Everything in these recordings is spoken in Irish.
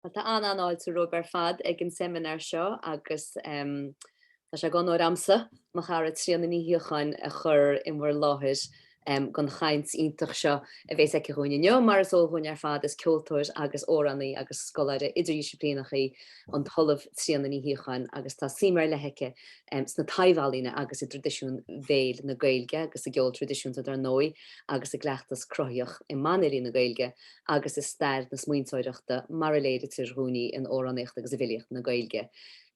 Tá an-fháilte romhaibh ar fad ag an seimineár seo agus tá sé dh'onóir a'msa, mo chara Tríona Ní Shíocháin, a chur i bhur láthair don chaint iontach seo a bhéas aici dhúinn inniu, mar is eol dhúinn ar fad is ceoltóir agus amhránaí agus scoláire idirdhisciplíneach í an tOllamh Tríona Ní Shíocháin agus tá suim ar leith aici sna taibhealaíona agus i dtraidisiún bhéil na Gaeilge agus sa gceol traidisiúnta dar ndóigh. agus i gcleachtas cruthaitheach i mbanfhilí na Gaeilge agus i stair na smaointeoireachta mar a léirítear dhúinn í in amhránaíocht agus i bhfilíocht na Gaeilge.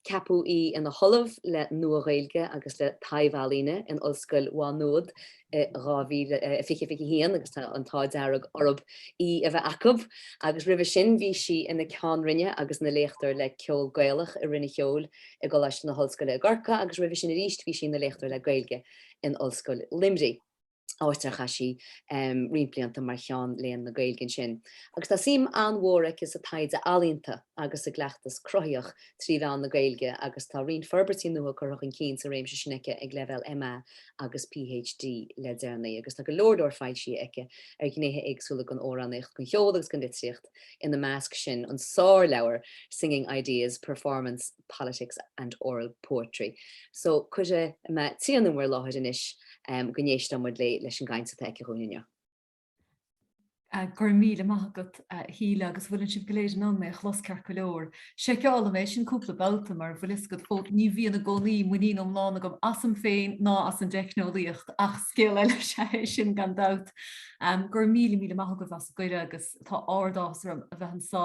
Ceapadh í ina hOllamh le Nua-Ghaeilge agus le Taibhealaíona in Ollscoil Mhá Nuad i 2020 21 agus tá an t-ádh dearg orthu í a bheith acu agus roimhe sin bhí sí ina Ceann Roinne agus ina Léachtóir le Ceol Gaelach i Roinn an Cheoil i gColáiste na hOllscoile i gCorcaigh agus roimhe sin arís bhí sí ina Léachtóir le Gaeilge in Ollscoil Luimnigh. áit ar chaith sí roinnt blianta mar Cheann Léinn na Gaeilge ansin. Agus tá suim an-mhór aici sa taighde ealaíonta agus sa gcleachtas cruthaitheach trí mheán na Gaeilge agus tá roinnt forbairtí nua curtha chun cinn sa réimse sin aici ag leibhéal MA agus PhD le deireanaí. Agus tá go leor leor foilsithe aici ar ghnéithe éagsúla den amhránaíocht, den cheol agus den litríocht, ina measc sin an sárleabhar Singing Ideas, Performance. Politics and Oral Poetry. So, cuirfidh mé Tríona in bhur láthair anois go n-éistfidh muid léi leis an gcaint atá aici dhúinn inniu. Go raibh míle maith agat a Shíle agus bhfuil an sibh go léir in ann mé a chlos ceart go leor. Seiceálaim é sin cúpla babhta mar bhfuil fhios agat ó ní bhíonn i gcónaí muinín iomlán agam asam féin ná as an dteicneolaíocht ach scéal eile is ea é sin gan dabht. Go raibh míle míle maith agaibh as an gcuireadh agus tá ardáthas orm a bheith anso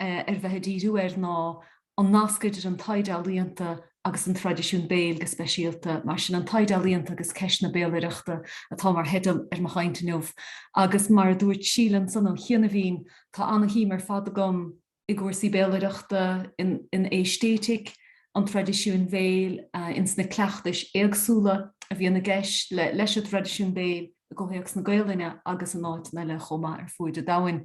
ar bheith ag díriú air ná an nasc idir an taighde ealaíonta agus an traidisiún béil go speisialta. Mar sin, 'An Taighde Ealaíonta agus Ceist na Béalaireachta' atá mar theideal ar mo chaint inniu agus, mar a dúirt Síle ansan ó chianaibhín, tá ana-shuim ar fad agam i gcúrsaí béalaireachta, in aeistéitic an traidisiúin bhéil, ins na cleachtais éagsúla a bhíonn i gceist leis an dtraidisiún béil. i gcomhthéacs na Gaelainne agus in áiteanna eile chomh maith ar fuaid an domhain.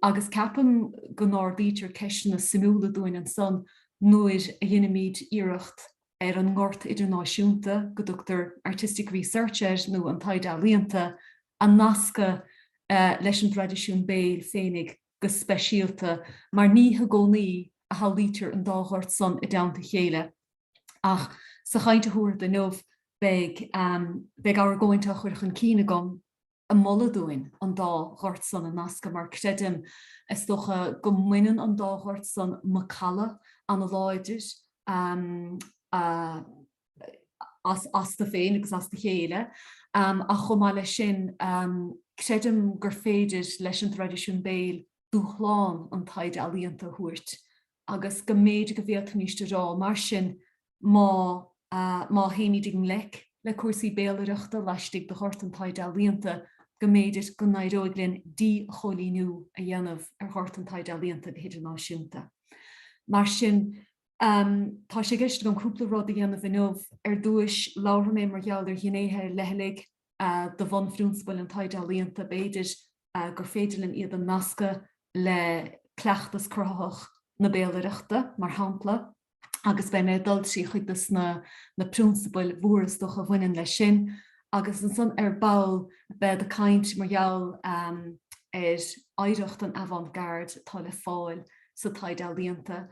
Agus ceapaim go n-ardaítear ceisteanna suimiúla dúinn ansan nuair a dheinimid iarracht ar an ngort idirnáisiúnta, go dtugtar artistic research air nó an taighde ealaíonta, a nascadh leis an dtraidisiún béil féinig. go speisialta mar ní i gcónaí a shamhlaítear an dá ghort san i dteannta a chéile ach sa chaint a thabharfad inniu beidh argóint á chur chun cinn agam ag moladh dúinn an dá ghort san a nascadh mar creidim is dócha go mbaineann an dá ghort san macalla ana-láidir a astu féin agus as a chéile ach chomh maith leis sin creidim gur féidir leis an dtraidisiún béil dúshlán an taighde ealaíonta a thabhairt agus go mb'fhéidir go bhféadfaimis a rá mar sin má théimid i ngleic le cúrsaí béalaireachta laistigh de ghort an taighde ealaíonta go mb'fhéidir go n-éireoidh linn díchoilíniú a dhéanamh ar ghort an taighde ealaíonta go hidirnáisiúnta. Mar sin, Tá sé i gceist agam cúpla rud a dhéanamh inniu. Ar dtúis, labharfaidh mé mar gheall ar ghnéithe ar leithligh de bhunphrionsabail an taighde ealaíonta. B'fhéidir gur féidir linn iad a nascadh le cleachtas cruthaitheach na béalaireachta, mar shampla, agus beidh mé ag dul trí chuid des na prionsabail mhóra is dócha a bhaineann leis sin agus ansan ar ball bead ag caint mar gheall ar oidhreacht an avant-garde atá le fáil sa taighde ealaíonta.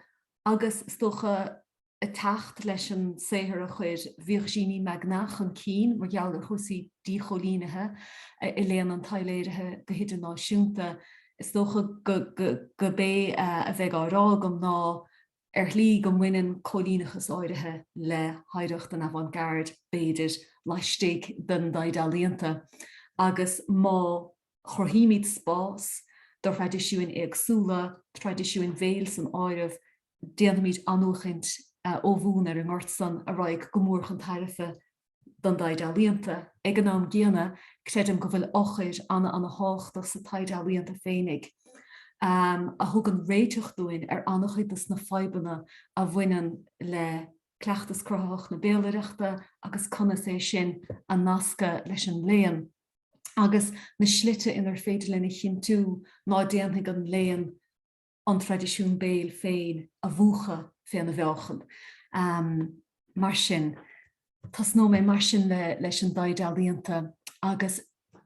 agus is dócha ag teacht leis an saothar a chuir Virginie Magnat chun cinn mar gheall ar chúrsaí díchoilínithe i léann an taibhléirithe go hidirnáisiúnta, is dócha gurb é a bheidh á rá agam ná, ar shlí, go mbaineann cóilíneachas áirithe le hoidhreacht an avant-garde, b'fhéidir, laistigh den dtaighde ealaíonta, agus má. chruthaímid spás do thraidisiúin éagsúla, traidisiúin bhéil san áireamh, déanfaimid athnuachaint ó bhun ar an ngort san a raghaidh go mór chun tairbhe don dtaighde ealaíonta. Ag an am gcéanna, creidim go bhfuil eochair ana-ana-thábhachtach sa taighde ealaíonta féinig, a thugann réiteach dúinn ar ana-chuid des na fadhbanna a bhaineann le cleachtas cruthaitheach na béalaireachta agus conas é sin a nascadh leis an léann. agus na slite inar féidir linn a chinntiú ná déanfaidh an léann an traidisiún béil féin a mhúchadh féna mheáchan. Mar sin, tosnóidh mé mar sin leis an dtaighde ealaíonta agus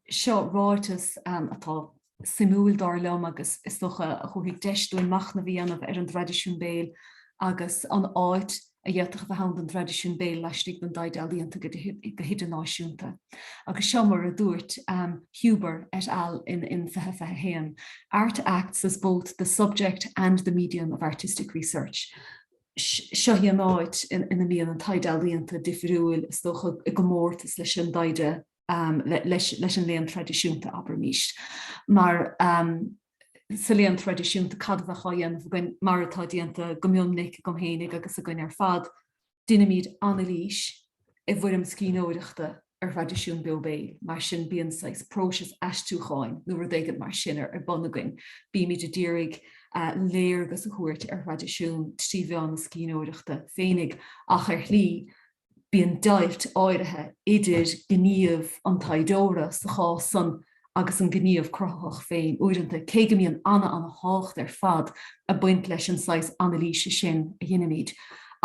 seo ráiteas atá suimiúil, dar liom, agus is dócha a thabharfaidh deis dúinn machnamh a dhéanamh ar an dtraidisiún béil agus an áit a d'fhéadfadh a bheith ann don dtraidisiún béil laistigh den dtaighde ealaíonta go hidirnáisiúnta. Agus seo mar a dúirt Huber et al in in 2021, Art acts as both the subject and the medium of artistic research. Seo í an áit ina mbíonn an taighde ealaíonta difriúil, is dócha, i gcomórtas leis an dtaighde. um, leis, leis an léann traidisiúnta abraimis mar um, sa léann traidisiúnta cad a bheadh á dhéanamh again mar atá déanta go mion minic gom héinigh agus again ar fad dinimid analís i bhfoirm scríbhneoireachta ar thraidisiún beo béil mar sin bíonn saghas próiseas aistriúcháin nó rud éigin mar sin ar, ar bun again bímid a d'iarraidh uh, léargas a thabhairt ar thraidisiún trí mheán na scríbhneoireachta féinig ach ar shlí bíonn deighilt áirithe idir gníomh an taighdeora sa chás san agus an gníomh cruthaitheach féin uaireanta, cé go mbíonn ana-ana-thábhacht ar fad ag baint leis an saghas anailíse sin a dheinimid.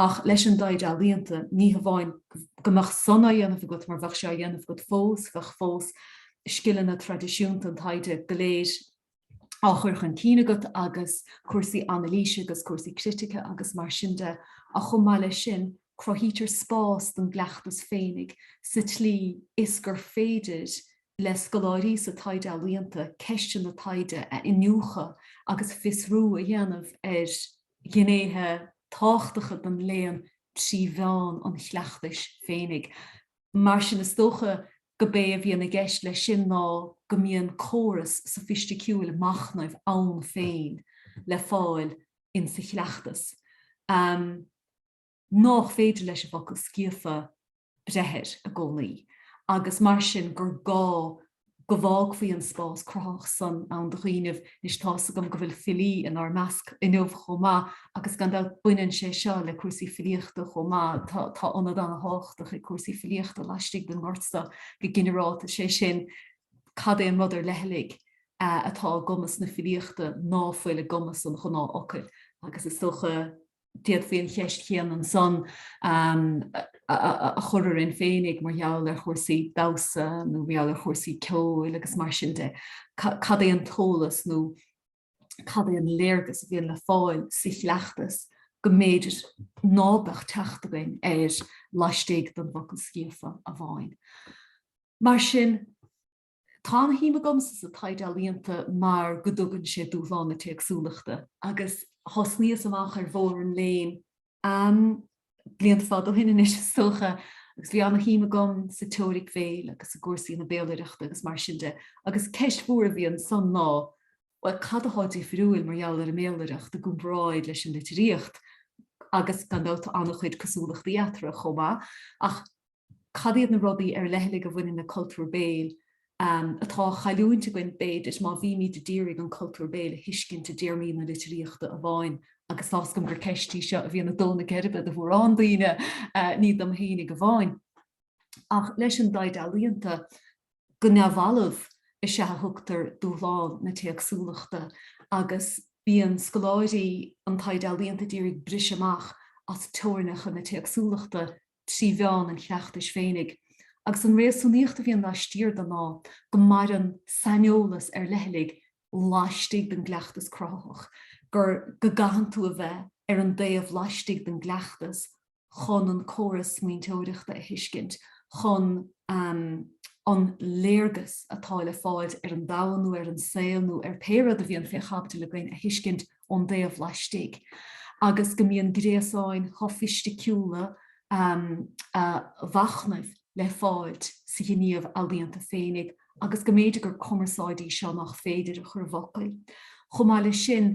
Ach leis an dtaighde ealaíonta, ní hamháin go mbeadh san á dhéanamh agat mar bheadh sé á dhéanamh agat fós, bheadh fós scileanna traidisiúnta an taighde go léir, á chur chun cinn agat agus cúrsaí anailíse agus cúrsaí critice agus mar sin de ach chomh maith leis sin, cruthaítear spás don gcleachtas féinig sa tslí is gur féidir le scoláirí sa taighde ealaíonta ceisteanna taighde a iniúchadh agus fiosrú a dhéanamh ar ghnéithe tábhachtacha den léann trí mheán an chleachtais féinig. Mar sin is dócha gob é a bhíonn i gceist leis sin ná go mbíonn córas sofaisticiúil machnaimh ann féin le fáil in sa chleachtas nách féidir leis an bhfocal scríofa breith air i gcónaí agus mar sin gur gá go bhfágfaí an spás cruthaitheach san ann do dhaoinibh. Anois tá's agam go bhfuil filí in ár measc inniu chomh maith agus gan dabht baineann sé seo le cúrsaí filíochta chomh maith. Tá ionad ana-thábhachtach ag cúrsaí filíochta laistigh den ngort so go ginearálta, sé sin cad é an rud ar leithligh atá i gcumas na filíochta ná fuil i gcumas an ghnáth-fhocail agus is dócha, d'fhéadfaí an cheist chéanna ansan a chur orainn féinig mar gheall ar chúrsaí damhsa nó mar gheall ar chúrsaí ceoil agus mar sin de. Cad é an t-eolas nó cad é an léargas a bhíonn le fáil sa chleachtas go mb'fhéidir ná beadh teacht againn air laistigh den bhfocal scríofa amháin. Mar sin. Tá ana shuim agamsa sa taighde ealaíonta mar go dtugann sé dúshlán na téacsúlachta. Agus thosnaíos amach ar bhóthar an léinn, am blianta fada ó shin anois is dócha, agus bhí ana shuim agam sa teoiric bhéil agus i gcúrsaí na béalaireachta agus mar sin de. Agus ceist mhór a bhí ansan ná, bhuel, cad atá difriúil mar gheall ar an mbéalaireacht i gcomparáid leis an litríocht? Agus gan dabht tá ana chuid cosúlachtaí eatarthu chomh maith, ach. Cad iad na rudaí ar leithligh a bhaineann le cultúr béil atá á chailliúint againn, b'fhéidir, má bhímid a d'iarraidh an cultúr béil a thuiscint i dtéarmaí na litríochta amháin? Agus tá's agam gur ceist í seo a bhíonn ag dó na geirbe do mhórán daoine, ní dom fhéinig amháin. Ach leis an dtaighde ealaíonta, go neamhbhalbh, is ea a thugtar dúshlán na téacsúlachta agus bíonn scoláirí an taighde ealaíonta a d'iarraidh briseadh amach as teorainneacha na téacsúlachta trí mheán an chleachtais féinig, agus an réasúnaíocht a bhíonn laistiar de ná go maireann saineolas ar leithligh laistigh den gcleachtas cruthaitheach, gur go gcaitheann tú a bheith ar an dtaobh laistigh den gcleachtas chun an córas smaointeoireachta a thuiscint, chun an léargas atá le fáil ar an domhan nó ar an saol nó ar pé rud a bhíonn fé chaibidil againn a thuiscint. ón dtaobh laistigh agus go mbíonn gréasáin shofaisticiúla mhachnaimh le fáilt sa ghníomh ealaíonta féinig agus go mb'fhéidir gur cumarsáid í seo nach féidir a chur i bhfocail. Chomh maith leis sin,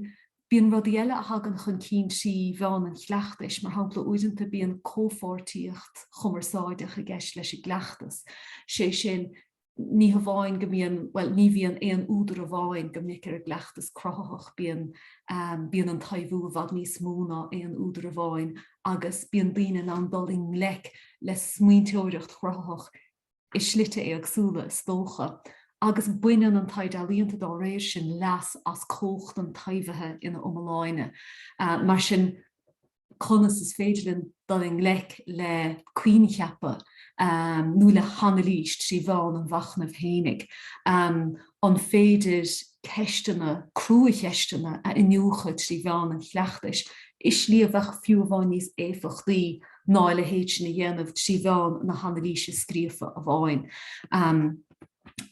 bíonn rudaí eile a thagann chun cinn trí mheán an chleachtais, mar shampla, uaireanta bíonn comhpháirtíocht chumarsáideach i gceist leis an gcleachtas, sé sin, ní hamháin go mbíonn, bhuel, ní bhíonn aon údar amháin go minic ar an gcleachtas cruthaitheach, bíonn, bíonn an taibhiú i bhfad níos mó ná aon údar amháin agus bíonn daoine in ann dul i ngleic le smaointeoireacht chruthaitheach i slite éagsúla, is dócha. Agus baineann an taighde ealaíonta dá réir sin leas as cumhacht an taibhithe ina iomláine. Mar sin. conas is féidir linn dul i ngleic le coincheapa nó le hanailís trí mheán an mhachnaimh fhéinig, an féidir ceisteanna, cruacheisteanna a iniúchadh trí mheán an chleachtais i slí a bheadh fiú amháin níos éifeachtaí ná a leithéid sin a dhéanamh trí mheán na hanailíse scríofa amháin,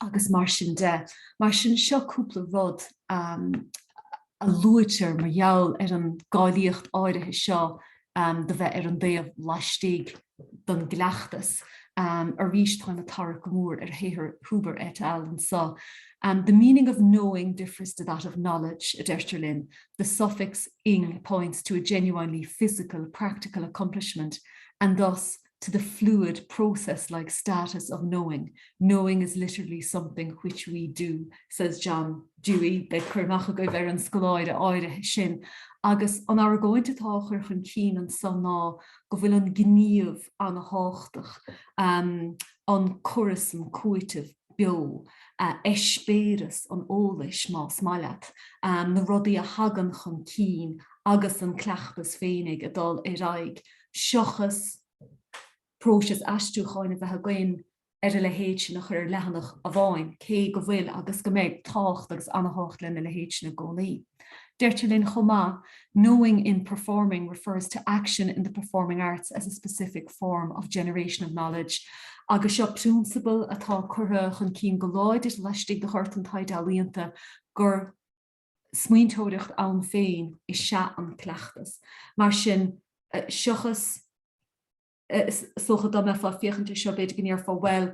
agus mar sin de. Mar sin, seo cúpla rud a. a luaitear mar gheall ar an gcáilíocht áirithe seo do bheith ar an dtaobh laistigh den gcleachtas. Arís, táim ag tarrac go mór ar shaothar Huber et al. anseo. The meaning of knowing differs to that of knowledge, a deirtear linn, the suffix, ing, points to a genuinely physical, practical accomplishment and thus, to the fluid process-like status of knowing, knowing is literally something which we do, says John Dewey, beidh cur amach agaibh ar an scoláire áirithe sin, agus an argóint atá á chur chun cinn anseo ná go bhfuil an gníomh ana-thábhachtach, an córas, an cúiteamh beo, eispéireas an eolais, más maith leat, na rudaí a thagann chun cinn agus an cleachtas féinig ag dul ar aghaidh. seachas próiseas aistriúcháin a bheith againn ar a leithéid sin a chur ar leathanach amháin, cé go bhfuil agus go mbeidh tábhacht agus an-tábhacht lena leithéid sin i gcónaí. Deirtear linn chomh maith, 'Knowing in performing refers to action in the performing arts as a specific form of generation of knowledge' agus seo prionsabal atá curtha chun cinn go láidir laistigh de ghort an taighde ealaíonta gur smaointeoireacht ann féin is ea an cleachtas. Mar sin, seachas, is dócha dá mbeifeá ag féachaint ar seo b'fhéidir go ndéarfá, bhuel,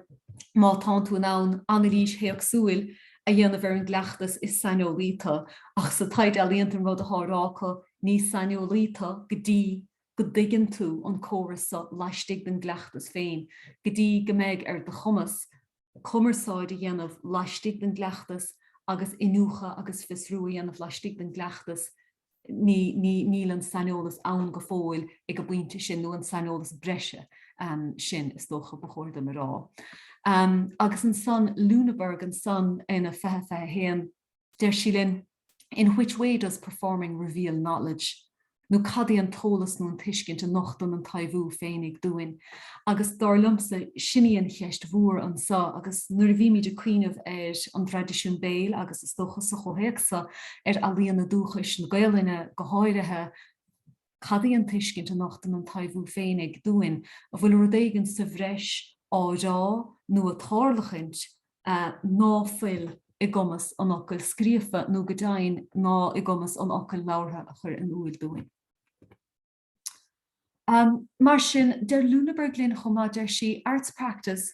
má tánn tú in ann anailís théacsúil a dhéanamh ar an gcleachtas is saineolaí tú, ach sa taighde ealaíonta an rud atá á rá acu, ní saineolaí tú go dtí go dtuigeann tú an córas seo laistigh den gcleachtas féin, go dtí go mbeidh ar do chumas cumarsáid a dhéanamh laistigh den gcleachtas agus iniúchadh agus fiosrú a dhéanamh laistigh den gcleachtas níl an saineolas ann go fóill ag an bpointe sin nó an saineolas breise sin is dócha ba chóir dom a rá. Agus ansan Luneburg ansan ina 2021 deir sí linn, in which way does performing reveal knowledge nó cad í an t-eolas nó an tuiscint a nochtann an taibhiú féinig dúinn agus dar liomsa sin í an cheist mhór anso agus nuair a bhímid ag cuimhneamh ar an dtraidisiún béil agus is dócha sa chomhthéacs seo ar ealaíona dúchais na Gaelainne go háirithe. Cad í an tuiscint a nochtann an taibhiú féinig dúinn? An bhfuil rud éigin sa bhreis á rá nó ag tarlachaint ná fuil i gcumas an fhocail scríofa nó, go deimhin, ná i gcumas an fhocail labhartha a chur in iúl dúinn? Mar sin, deir Luneburg linn chomh maith, deir sí, 'Arts practice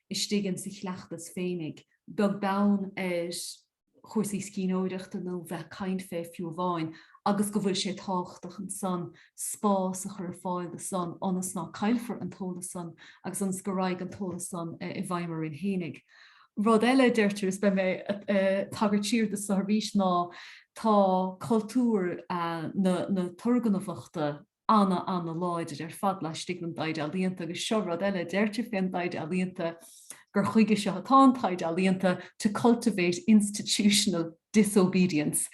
istigh in sa chleachtas féinig, beag beann ar chúrsaí scríbhneoireachta nó bheith ag caint fé fiú amháin, agus go bhfuil sé tábhachtach ansan spás a chur ar fáil do san ionas ná caillfear an t-eolas san agus ionas go raghaidh an t-eolas san i bhfeidhm orainn fhéinig. Rud eile a deirtear is beidh mé ag tagairt siar do san arís ná tá cultúr na turgnamhachta, ana, ana-láidir ar fad laistigh den dtaighde ealaíonta agus seo rud eile a deirtear fén dtaighde ealaíonta gur chuige seo atá an taighde ealaíonta, 'to cultivate institutional disobedience,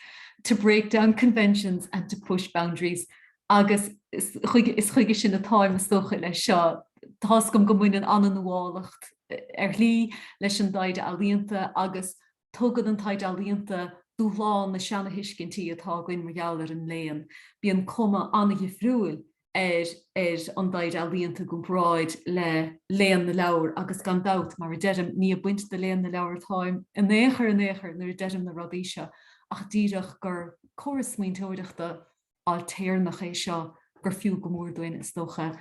to break down conventions and to push boundaries' agus is chuige sin atáim is dócha leis seo. Tá's agam go mbaineann ana-nuálacht, ar shlí, leis an dtaighde ealaíonta agus. Tugann an taighde ealaíonta dúshlán na seanathuiscintí atá againn mar gheall ar an léann. Bíonn cuma an-dhifriúil ar ar an dtaighde ealaíonta i gcomparáid le léann na leabhar agus gan dabht, mar a deirim, ní ag baint de léann na leabhar atáim in aon chor in aon chor nuair a deirim na rudaí seo ach díreach gur córas smaointeoireachta ailtéarnach é seo gur fiú go mór dúinn, is dócha,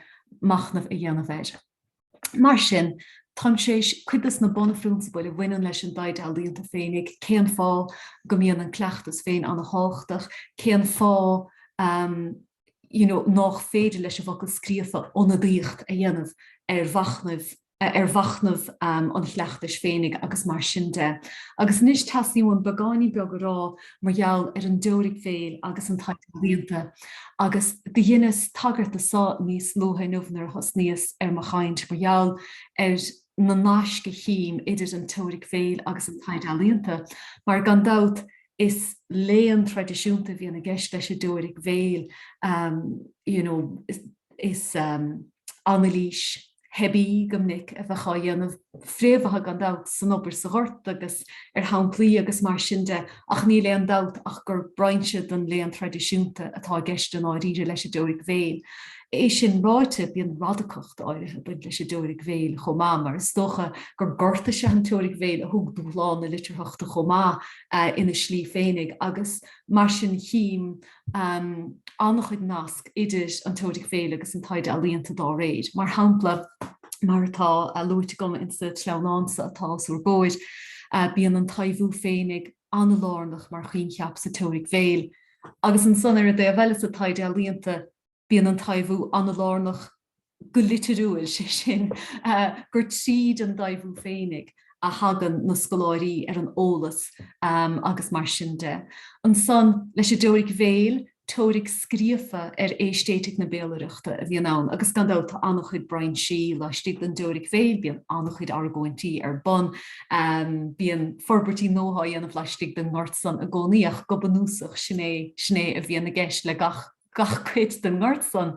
machnamh a dhéanamh air. Mar sin, táim tar éis cuid de na bunphrionsabail a bhaineann leis an dtaighde ealaíonta féinig, cén fáth go mbíonn an cleachtas féin an-tábhachtach, cén fáth you know nách féidir leis an bhfocal scríofa ionadaíocht a dhéanamh ar mhachnaimh, ar mhachnamh an chleachtais féinig agus mar sin de. Agus anois teastaíonn uaim beagáinín beag a rá mar gheall ar an dteoiric bhéil agus an taighde ealaíonta, agus do dheineas tagairt dó so níos luaithe inniu nuair a thosnaíos ar mo chaint, mar gheall ar na naisc a chím idir an teoiric bhéil agus an taighde ealaíonta, mar gan dabht is léann traidisiúnta a bhíonn i gceist leis an dteoiric bhéil, you know, is anailís, theibí go minic a bheadh á dhéanamh, fréamhaithe gan dabht san obair sa ghort agus ar shamplaí agus mar sin de, ach níl aon dabht ach gur brainse den léann traidisiúnta atá i gceist i ndáiríre leis an dteoiric bhéil. É sin ráite, bíonn radacacht áirithe ag baint leis an dteoiric bhéil chomh maith mar is dócha gur gort is ea an teoiric bhéil a thug dúshlán na litearthachta chomh maith ina slí féinig agus mar sin chím an-chuid nasc idir an teoiric bhéil agus an taighde ealaíonta dá réir, mar shampla, mar atá luaite agam insa tsleamhnán so atá os úr gcomhair, bíonn an taibhiú féinig an-lárnach mar choincheap sa teoiric bhéil, agus ansan, ar an dtaobh eile, sa taighde ealaíonta. Bíonn an taibhiú an-lárnach go litiriúil, sé sin, gur tríd an dtaibhiú féinig a thagann na scoláirí ar an eolas agus mar sin de. Ansan, leis an dteoiric bhéil, teoiric scríofa ar aeistéitic na béalaireachta a bhíonn ann agus gan dabht tá an-chuid brainsí laistigh den dteoiric bhéil, bíonn an-chuid argóintí ar bun, bíonn forbairtí nua á dhéanamh laistigh den ngort san i gcónaí ach go bunúsach sin é a bhíonn i gceist le gach. gach cuid den ngort san.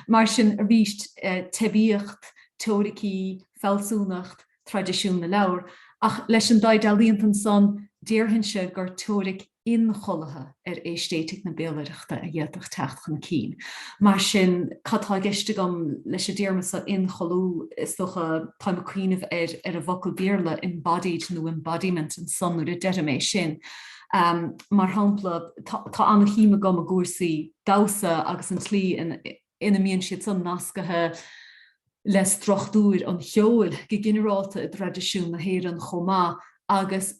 Mar sin, arís, teibíocht, teoiricí, fealsúnacht, traidisiún na leabhar. Ach leis an dtaighde ealaíonta ansan, déarfainnse gur teoiric inchollaithe ar aeistéitic na béalaireachta a d'fhéadfadh teacht chun cinn. Mar sin, cad tá i gceist agam leis an dtéarma so 'inchollú'? Is dócha, táim ag cuimhneamh ar an bhfocal Béarla 'embodied' nó 'embodiment' ansan nuair a deirim é sin. Mar shampla, tá an-shuim agam i gcúrsaí damhsa agus an tslí ina mbíonn siad san nascaithe le struchtúir an cheoil go ginearálta i dtraidisiún na hÉireann chomh maith agus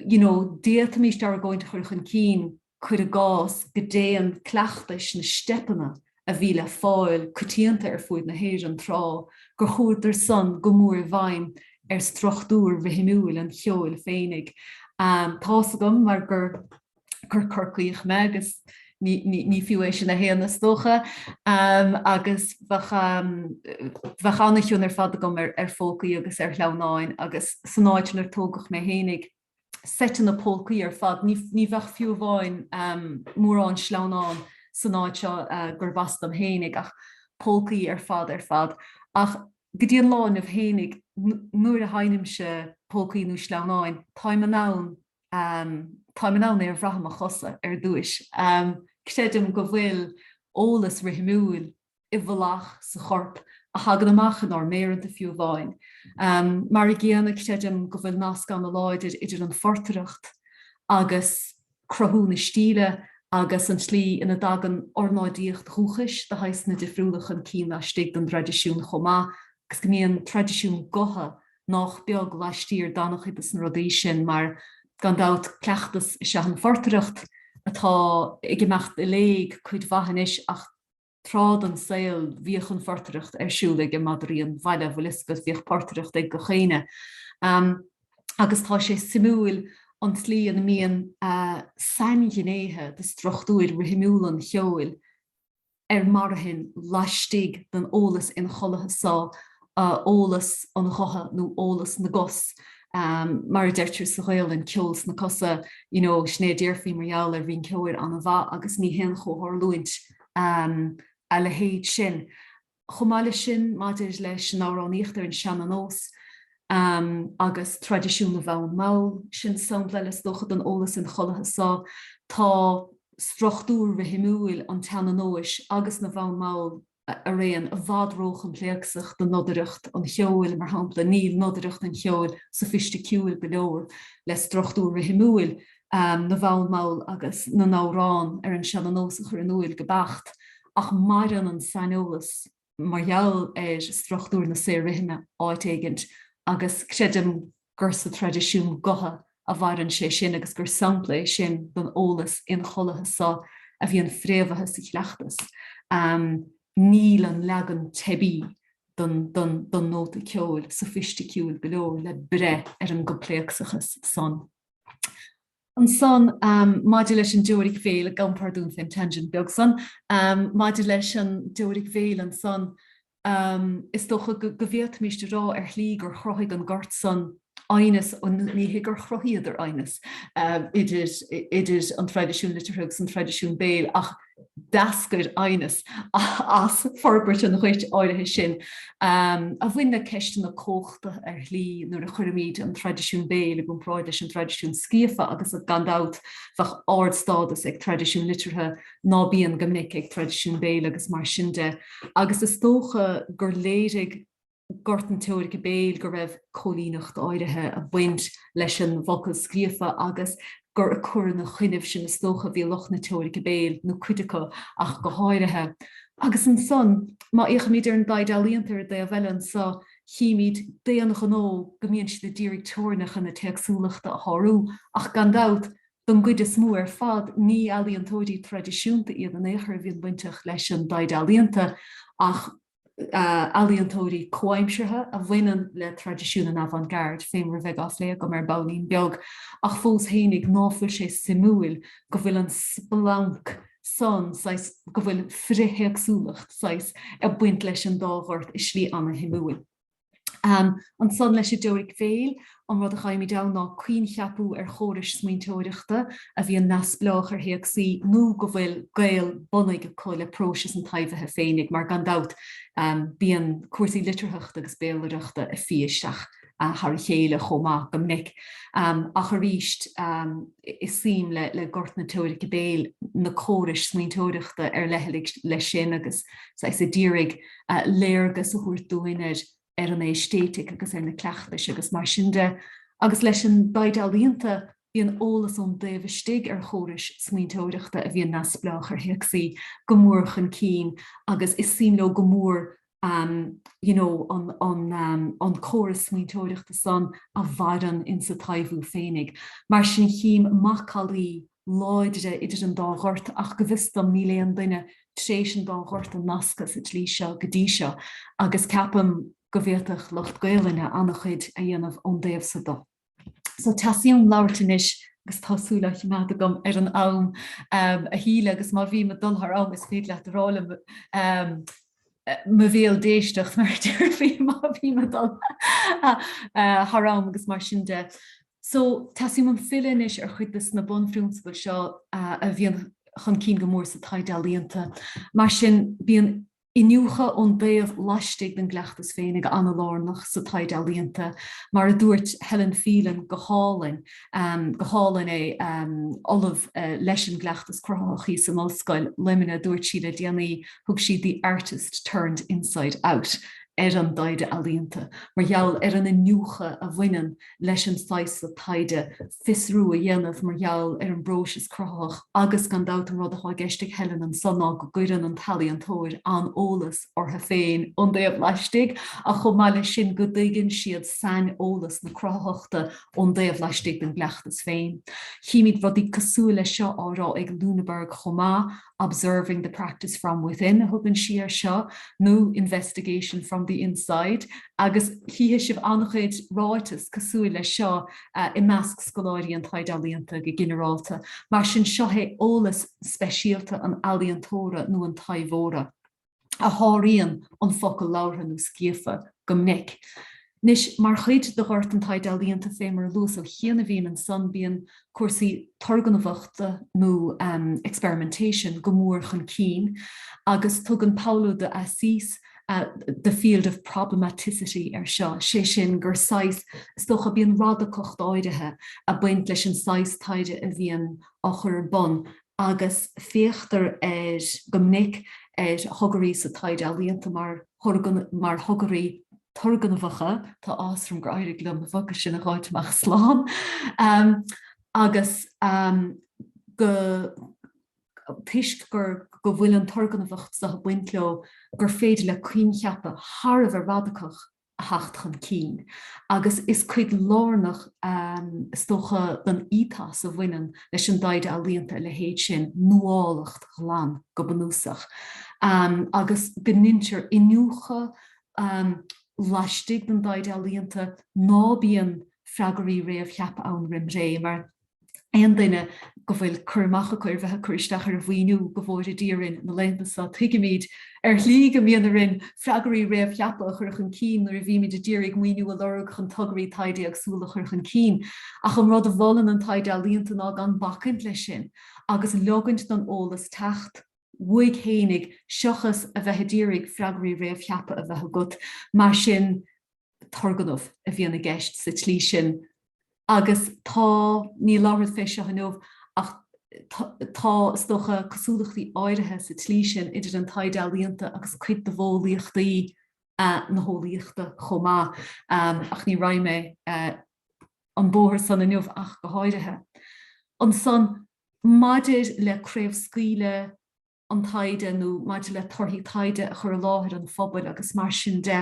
you know d'fhéadfaimis argóint a chur chun cinn, cuir i gcás, go dtéann cleachtais na steipeanna a bhí le fáil coitianta ar fuid na hÉireann tráth, gur chuadar san go mór i bhfeidhm ar struchtúr rithimiúil an cheoil féinig. Tá's agam mar gur Corcaíoch me agus ní fiú é sin a shéanadh is dócha, agus bheadh ana-chion ar fad agam ar pholcaí agus ar shleamhnáin agus san áit 'nar tógadh mé féinig. seiteanna polcaí ar fad. Ní bheadh fiú amháin mórán sleamhnán san áit seo gurbh as dom fhéinig ach polcaí ar fad ar fad. Ach go dtí an lá inniu fhéinig, nuair a sheinnimse polcaí nó sleamhnáin, táim in ann táim in ann é a bhrath i mo chosa ar dtúis. Creidim go bhfuil eolas rithimiúil i bhfolach sa chorp a thagann amach inár méireanta fiú amháin. Mar an gcéanna, creidim go bhfuil nasc an-láidir idir an phortaireacht agus cruthú na stíle agus an tslí ina dtagann ornáidíocht dhúchais de shaghsanna difriúla chun cinn laistigh den dtraidisiún chomh maith agus go mbíonn traidisiún gutha nách beag laistiar d'an-chuid de na rudaí sin mar gan dabht cleachtas is ea an phortaireacht atá ag imeacht i léig cuid mhaith anois ach Tráth den saol bhíodh an phortaireacht ar siúl ag madraí an bhaile an bhfuil 'fhios agat, bhíodh portaireacht ag gach éinne agus tá sé suimiúil an tslí ina mbíonn sainghnéithe de struchtúir rithimiúla an cheoil ar marthain laistigh den eolas inchollaithe so eolas an ghutha nó eolas na gcos mar a deirtear sa Ghaolainn, ceol sna cosa you know sin é a déarfaí mar gheall ar rinceoir an-mhaith agus ní haon chomhtharlúint a leithéid sin. Chomh maith leis sin maidir leis an amhránaíocht ar an seana-nós agus traidisiún na bhfonn mall, sin sampla eile is dócha den eolas inchollaithe so tá struchtúr rithimiúil an tseana-nóis agus na bhfonn mall, araon i bhfad róchoimpléacsach do nodaireacht an cheoil, mar shampla, níl nodaireacht an cheoil sofaisticiúil go leor le struchtúr rithimiúil na bhfonn mall agus na n-amhrán ar an seana-nós a chur in úil go beacht, ach maireann an saineolas mar gheall ar struchtúr na saor-rithime áit éigint agus creidim, gur sa traidisiún gutha a mhaireann sé sin agus gur sampla é sin den eolas inchollaithe so a bhíonn fréamhaithe sa chleachtas. Níl an leagan teibí den nóta ceoil sofaisticiúil go leor le breith ar an gcoimpléacsachas san. Ansan, maidir leis an dteoiric bhéil, gabhaim pardún fén tangent beag san, maidir leis an dteoiric bhéil ansan, is dócha go bhféadfaimíst a rá ar shlí gur chruthaigh an Gort san aighneas, ní hé gur chruthaíodar aighneas idir an traidisiún liteartha agus an traidisiún béil ach, d'eascair aighneas as forbairt an ghoirt áirithe sin a bhain le ceisteanna comhachta ar shlí nuair a chuirimid an traidisiún béil i gcomparáid leis an traidisiún scríofa agus gan dabht bheadh ardstádas ag traidisiún liteartha ná bíonn go minic ag traidisiún béil agus mar sin de agus is dócha gur léirigh gort na teoirice béil go raibh cóilíneacht áirithe ag baint leis an bhfocal scríofa agus gur ag cur ina choinnibh sin is dócha a bhí lucht na teoirice béil, nó cuid acu ach go háirithe. Agus ansan, má fhéachaimid ar an dtaighde ealaíonta ar dtaobh eile anso, chímid d'aon ghnó go mbíonn siad a d'iarraidh teorainneacha na téacsúlachta a shárú, ach gan dabht, don gcuid is mó ar fad, ní ealaíontóirí traidisiúnta iad in aon chor a bhíonn bainteach leis an dtaighde ealaíonta ach, ealaíontóirí comhaimseartha a bhaineann le traidisiún an avant garde fé mar a bheidh á phlé agam ar baillín beag ach fós fhéinig ná fuil sé suimiúil go bhfuil an splanc san saghas go bhfuil frithéagsúlacht saghas ag baint leis an dá ghort i slí ana-shuimiúil. Ansan leis an dteoiric bhéil, an rud a gheibhimid ann ná coincheapú ar chórais smaointeoireachta a bhíonn neamhspleách ar théacsaí nó go bhfuil gaol bunaidh acu le próisis an taibhithe féinig mar gan dabht bíonn cúrsaí litearthachta agus béalaireachta ag fí isteach thar a chéile chomh maith go minic ach arís is suim le gort na teoirice béil na córais smaointeoireachta ar leithligh leis sin agus saghas a d'iarraidh léargas a thabhairt dúinn ar an aeistéitic agus ar na cleachtais agus mar sin de. Agus leis an dtaighde ealaíonta, bíonn eolas ón dtaobh istigh ar chórais smaointeoireachta a bhíonn neamhspleách ar théacsaí go mór chun cinn agus is suim leo go mór you know an an an córas smaointeoireachta san a mhaireann insa taibhiú féinig. Mar sin chím macallaí láidre idir an dá ghort ach go bhfios dom níl aon duine tréis an dá ghort a nascadh sa tslí seo go dtí seo agus ceapaim go bhféadfadh lucht Gaolainne ana-chuid a dhéanamh ón dtaobh so de. So teastaíonn uaim labhairt anois agus tá súil á choimeád agam ar an am a Shíle agus má bhím ag dul thar am is féidir leat rá liom mo bhéal d'éisteacht mar a déarfaí má bhím ag dul thar am agus mar sin de. So teastaíonn uaim filleadh anois ar chuid des na bunphrionsabail seo a bhíonn chun cinn go mór sa taighde ealaíonta. Mar sin bíonn iniúchadh ón dtaobh laistigh den gcleachtas féinig ana-lárnach sa taighde ealaíonta. Mar a dúirt Helen Phelan go hálainn, go hálainn é, Ollamh leis an gCleachtas Cruthaitheach thíos in Ollscoil Luimnigh, dúirt sí le déanaí, thug sí 'the artist turned inside out' ar an dtaighde ealaíonta mar gheall ar an iniúchadh a bhaineann leis an saghas seo taighde. fiosrú a dhéanamh mar gheall ar an bpróiseas cruthaitheach agus gan dabht an rud atá i gceist ag Helen anseo ná go gcuireann an t-ealaíontóir an-eolas orthu féin ón dtaobh laistigh ach chomh maith leis sin go dtuigeann siad saineolas na cruthaitheachta ón dtaobh laistigh den gcleachtas féin. Chímíd rudaí cosúil leis seo á rá ag Lüneburg chomh maith, Observing the Practice from Within a thugann sí air seo nó Investigation from the Inside agus chífidh sibh an-chuid ráiteas cosúil leis seo i measc scoláirí an taighde ealaíonta go ginearálta. Mar sin seo é eolas speisialta an ealaíontóra nó an taibheora. a sháraíonn an focal labhartha nó scríofa go minic. Anois, mar chuid de ghort an taighde ealaíonta, fé mar a luas ó chianaibhín ansan, bíonn cúrsaí turgnamhachta nó experimentation go mór chun cinn agus tugann Paulo de Assis the field of problematicity ar seo, sé sin gur saghas, is dócha, bíonn radacacht áirithe ag baint leis an saghas taighde a bhíonn á chur ar bun. agus féachtar ar go minic ar thogairí sa taighde ealaíonta mar mar thogairí turgnamhacha tá áthas orm gur éirigh liom na focail sin a dh'fháil amach slán agus go toisc gur go bhfuil an turgnamhacht seo ag baint leo gur féidir le coincheapa thar a bheith radacach a a theacht chun cinn agus is cuid lárnach, is dócha, den ethos a bhaineann leis an dtaighde ealaíonta a leithéid sin, nuálacht ghlan go bunúsach, agus go ndeintear iniúchadh laistigh den dtaighde ealaíonta, ná bíonn freagraí réamhcheaptha ann roimh ré, mar. aon duine go bhfuil cur amach acu ar bheith ag cur isteach ar mhaoiniú go bhfóire Dia orainn na laethanta so. Tuigimid ar shlí go mbíonn orainn freagraí réamhcheaptha a chur chun cinn nuair a bhímid a d'iarraidh maoiniú a lorg chun tograí taighde éagsúla a chur chun cinn ach an rud a mholann an taighde ealaíonta ná gan bacaint leis sin agus leogaint don eolas teacht chuige féinig seochas a bheith a d'iarraidh freagraí réamhcheaptha a bheith agat. Mar sin. turgnamh a bhíonn i gceist sa tslí sin agus tá, ní labhrad fé seo inniu ach tá, is dócha, cosúlachtaí áirithe sa tslí sin idir an taighde ealaíonta agus cuid de mhodheolaíochtaí na heolaíochta chomh maith ach ní raghaidh mé an bóthar san inniu ach go háirithe. Ansan maidir le craobhscaoileadh, an taighde nó maidir le torthaí taighde a chur i láthair an phobail agus mar sin de.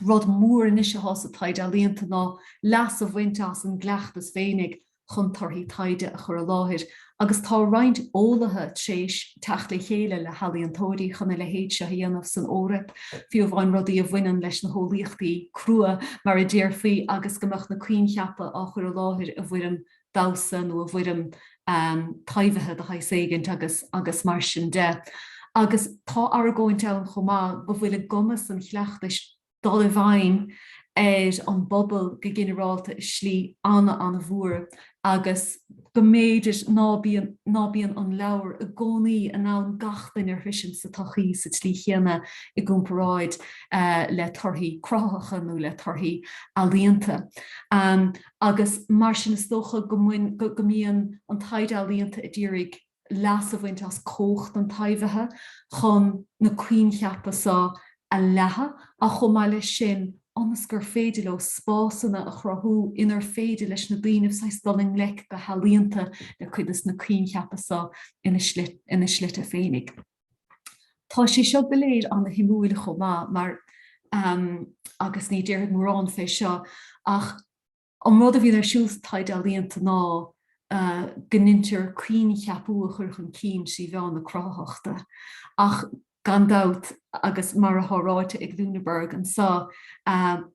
Rud mór anois atá sa taighde ealaíonta ná leas a bhaint as an gcleachtas féinig chun torthaí taighde a chur i láthair agus tá roinnt eolaithe tréis teacht le chéile le healaíontóirí chun a leithéid seo a dhéanamh san Eoraip, fiú amháin rudaí a bhaineann leis na heolaíochtaí crua mar a déarfaí agus go mbeadh na coincheapa á chur i láthair i bhfoirm damhsa nó i bhfoirm taibhithe de shaghas éigint agus mar sin de. Agus tá argóint ann chomh maith go bhfuil i gcumas an chleachtais dul i bhfeidhm ar an bpobal go ginearálta i slí an-an-mhór agus go mb'fhéidir ná bíonn an leabhar i gcónaí in ann gach duine a shroichint sa tsochaí sa tslí chéanna i gcomparáid le torthaí cruthaitheacha nó le torthaí ealaíonta. agus mar sin is dócha go mbíonn an taighde ealaíonta ag iarraidh leas a bhaint as cumhacht an taibhithe chun na coincheapa so a leathadh ach chomh maith leis sin ionas gur féidir leo spásanna a chruthú inar féidir leis na daoine saghas dul i ngleic go healaíonta le cuid de na coincheapa so ina slite féinig. Tá sé seo go léir an-shuimiúil chomh maith mar, agus ní déarfad mórán fé seo, ach an rud a bhíonn ar siúl sa taighde ealaíonta ná go ndeintear coincheapú a chur chun cinn trí mheán na cruthaitheachta. Ach gan dabht, agus mar atá ráite ag Lüneburg anso,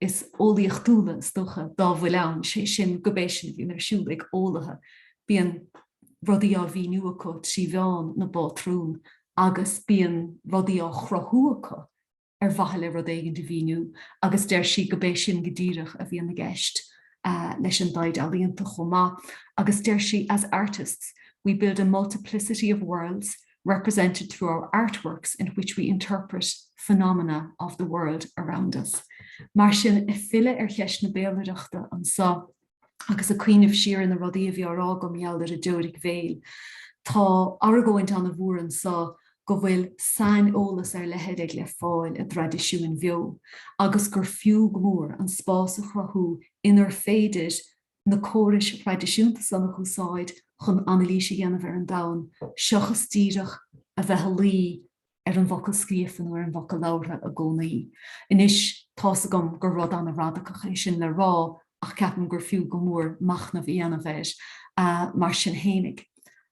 is eolaíochtúla is dócha dá bhfuil ann, sé sin gurb é sin a bhíonn ar siúl ag eolaithe, bíonn rudaí á mhíniú acu trí mheán na bpátrún agus bíonn rudaí á chruthú acu ar mhaithe le rud éigin a mhíniú agus deir sí gurb é sin go díreach a bhíonn i gceist leis an dtaighde ealaíonta chomh maith agus deir sí as artists we build a multiplicity of worlds represented through our artworks in which we interpret phenomena of the world around us. Mar sin, ag filleadh ar cheist na béalaireachta anso agus ag cuimhneamh siar ar na rudaí a bhí á rá agam mar gheall ar an dteoiric bhéil, tá argóint an-mhór anso go bhfuil saineolas ar leithead le fáil i dtraidisiúin bheo agus gur fiú go mór an spás a chruthú inar féidir na córais thraidisiúnta san a úsáid chun anailís a dhéanamh ar an domhan seachas díreach a bheith ag luí ar an bhfocal scríofa nó ar an bhfocal labhartha i gcónaí. Anois, tá's agam gur rud an-radacach é sin le rá ach ceapaim gur fiú go mór machnamh a dhéanamh air. Mar sin féinig,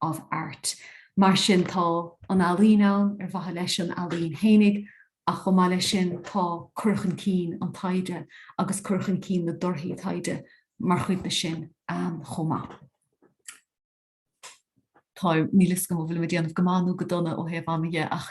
of art. Mar sin, tá an ealaín ann ar mhaithe leis an ealaín fhéinig ach chomh maith leis sin tá cur chun cinn an taighde agus cur chun cinn na dtorthaí taighde mar chuid de sin chomh maith. Táim, níl 'fhios agam an bhfuilim ag déanamh go maith nó go dona ó thaobh ama dhe ach.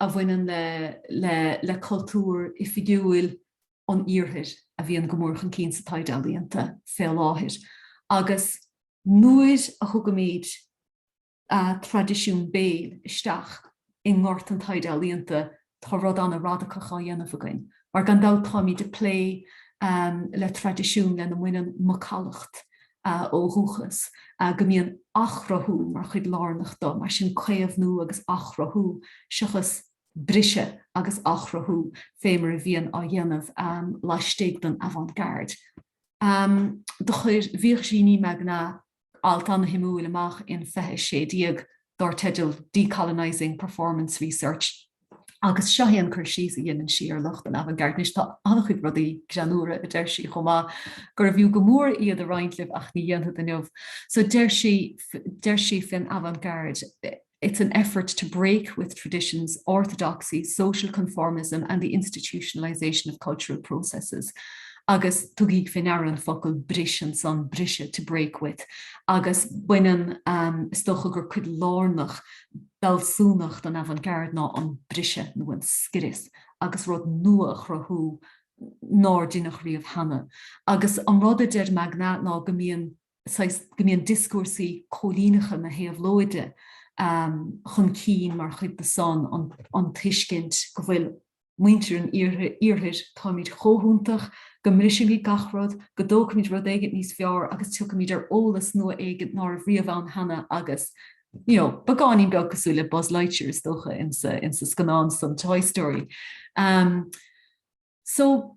a bhaineann le cultúr oifigiúil an Iarthair a bhíonn go mór chun cinn sa taighde ealaíonta fé láthair agus nuair a thugaimid traidisiún béil isteach i ngort an taighde ealaíonta tá rud an-radacach á dhéanamh againn mar gan dabht táimid ag plé le traidisiún lena mbaineann macallacht a ó dhúchas, a go mbíonn athchruthú mar chuid lárnach de mar sin caomhnú agus athchruthú seachas briseadh agus athchruthú fé mar a bhíonn á dhéanamh laistigh den avant-garde. Do chuir Virginie Magnat alt an-suimiúil amach in 2016 dar teideal 'Decolonising Performance Research' agus seo é an cur síos a dhéanann sí ar lucht an avant-garde. Anois, tá an-chuid rudaí greannmhara a deir sí chomh maith gurbh fhiú go mór iad a roinnt libh ach ní dhéanfad inniu. So deir sí, deir sí faoin avant-garde, 'It's an effort to break with traditions, orthodoxy, social conformism and the institutionalisation of cultural processes' agus tugaigí fé ndeara an focal 'bris' ansan, 'briseadh', 'to break with'. agus baineann, is dócha, gur cuid lárnach d'fhealsúnacht an avant-garde ná an briseadh nó an scrios agus rud nua a chruthú nár deineadh riamh cheana. Agus an rud a deir Magnat ná go mbíonn, saghas, go mbíonn dioscúrsaí cóilíneacha na héabhlóide chun cinn mar chuid de san, an tuiscint go bhfuil, muintir an Iarthair, táimid chomh hiontach, go mbrisfimid gach rud, go dtógfaimid rud éigin níos fearr agus tiocfaimid ar eolas nua éigin ná raibh riamh ann cheana agus you know, beagáinín beag cosúil le Buzz Lightyear is dócha insa, insa scannán san Toy Story. Um, so,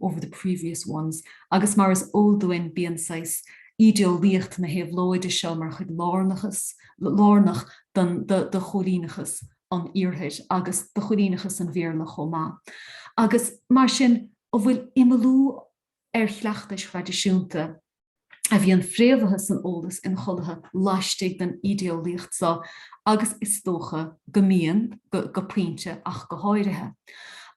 over the previous ones agus mar is eol dúinn bíonn saghas ídeolaíocht na héabhlóide seo mar chuid lárnach de chóilíneachas an Iarthair agus de chóilíneachas an Bhéarla chomh maith agus mar sin an bhfuil imeallú ar chleachtais thraidisiúnta a bhíonn fréamhaithe san eolas inchollaithe laistigh den ídeolaíocht seo agus is dócha go mbíonn, go pointe ach go háirithe.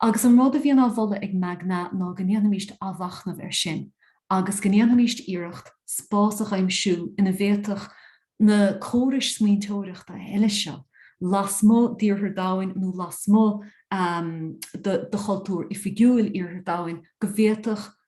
Agus an rud a bhíonn á mholadh ag Magnat ná go ndéanfaimis athmhachnamh air sin agus go ndéanfaimis iarracht spás a dh'aimsiú ina bhféadfadh na córais smaointeoireachta eile seo lasmuigh d'Iarthar Domhain nó lasmuigh de chultúr oifigiúil Iarthar Domhain go bhféadfadh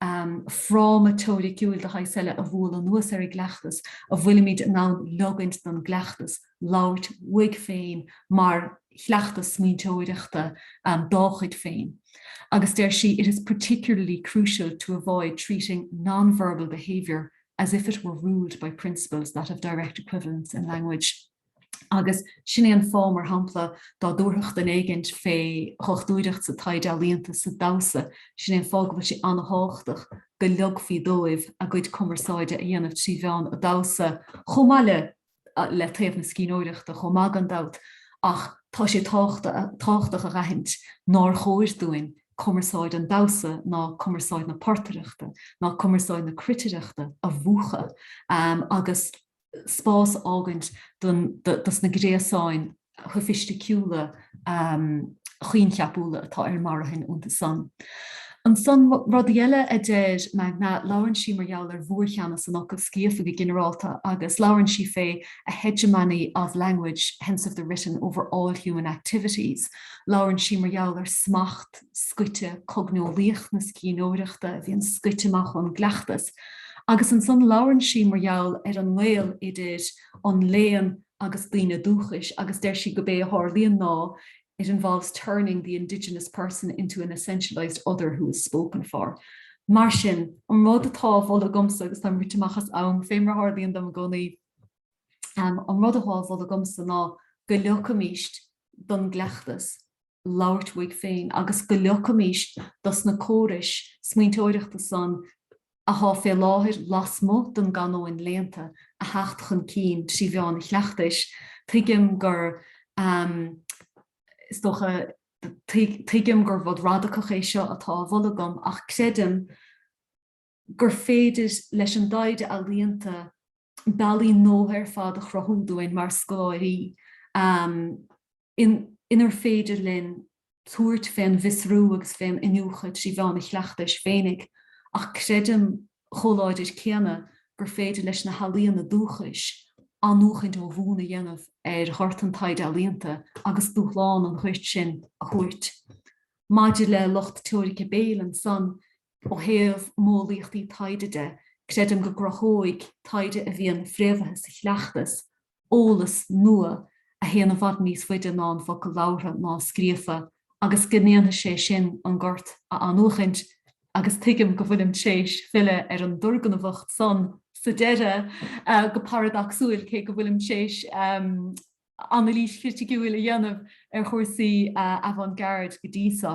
an fráma teoiriciúil de shaghas eile a bhualadh anuas ar an gcleachtas, a bhfuilimid in ann leogaint don gcleachtas labhairt uaidh féin mar chleachtas smaointeoireachta dá chuid féin. Agus deir sí, 'it is particularly crucial to avoid treating non-verbal behaviour as if it were ruled by principles that have direct equivalents in language'. agus sin é an fáth, mar shampla, dá dtabharfadh duine éigint fé dhochtúireacht sa taighde ealaíonta, sa damhsa, sin é an fáth go bhfuil sé an-tábhachtach go leogfaí dóibh a gcuid cumarsáide a dhéanamh trí mheán an damhsa chomh maith le le taobh na scríbhneoireachta chomh maith gan dabht ach tá sé tábhachtach a aithint nár chóir dúinn cumarsáid an damhsa ná cumarsáid na portaireachta ná cumarsáid na cruitireachta a mhúchadh agus spás a fhágaint do na gréasáin shoifisticiúla choincheapúla atá ar marthain iontu san. Ansan, rudaí eile a deir Magnat, labhrann sí mar gheall ar mhórcheannas an fhocail scríofa go ginearálta agus labhrann sí fé 'a hegemony of language, hence of the written, over all human activities'. Labhrann sí mar gheall ar smacht scoite cogneolaíoch na scríbhneoireachta a bhíonn scoite amach ón gcleachtas. agus ansan labhrann sí mar gheall ar an ngaol idir an léann agus daoine dúchais agus deir sí gurb é a tharlaíonn ná it involves turning the indigenous person into an essentialized other who is spoken for. Mar sin, an rud atá á mholadh agamsa agus táim rite amach as am, fé mar a tharlaíonn dom i gcónaí, um, an rud atá á mholadh agamsa ná go leogfaimíst don gcleachtas labhairt uaidh féin agus go leogfaimís do sna córais smaointeoireachta san athá fé láthair lasmuigh don gcanóin léannta a theacht chun cinn trí mheán an chleachtais, tuigim gur is dócha, tuigim gur rud radacach é seo atá á mholadh agam ach creidim, gur féidir leis an dtaighde ealaíonta bealaí nua ar fad a chruthú dúinn mar scoláirí inar féidir linn tabhairt fén bhfiosrú agus fén iniúchadh trí mheán an chleachtais féinig ach creidim chomh láidir céanna gur féidir leis na healaíona dúchais athnuachaint ó bhonn a dhéanamh ar ghort an taighde ealaíonta agus dúshlán an ghoirt sin a thabhairt. Maidir le lucht teoirice Béil ansan, Ó thaobh modheolaíochtaí taighde de, creidim go gcruthóidh taighde a bhíonn fréamhaithe sa chleachtas eolas nua a théann i bhfad níos faide ná an focal labhartha ná scríofa agus go ndéanfaidh sé sin an gort a athnuachaint agus tuigim go bhfuilim tréis filleadh ar an dturgnamhacht san sa deireadh go paradacsúil cé go bhfuilim tréis anailís chriticiúil a dhéanamh ar chúrsaí avant-garde go dtí so.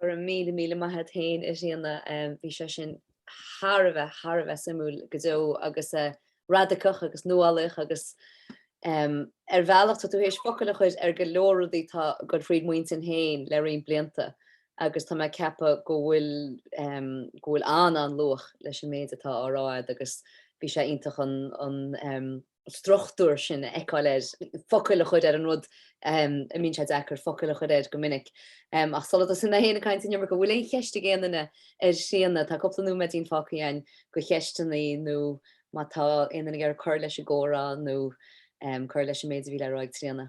Go raibh míle míle maith agat féin a Thríona, bhí sé sin thar a bheith, thar a bheith suimiúil go deo agus radacach agus nuálaíoch agus ar bhealach tá tú théis focail a chuir ar go leor rudaí atá ag goil fríd m'intinn féin le roinnt blianta agus tá mé ag ceapadh go bhfuil go bhfuil an-, an-luach leis an méid atá á rá agat agus bhí sé iontach an struchtúr sin a fheiceáil ar, focail a chur ar an rud a mbíonn sé deacair focail a chur air go minic. Ach sula dtosaíonn mé féin ag caint an iomarca, an bhfuil aon cheist ag aon duine ar Thríona? Tá cúpla nóiméadín fágtha againn do cheisteanna nó má tá aon duine ag iarraidh cur leis an gcomhrá nó cur leis an méid a bhí le rá ag Tríona.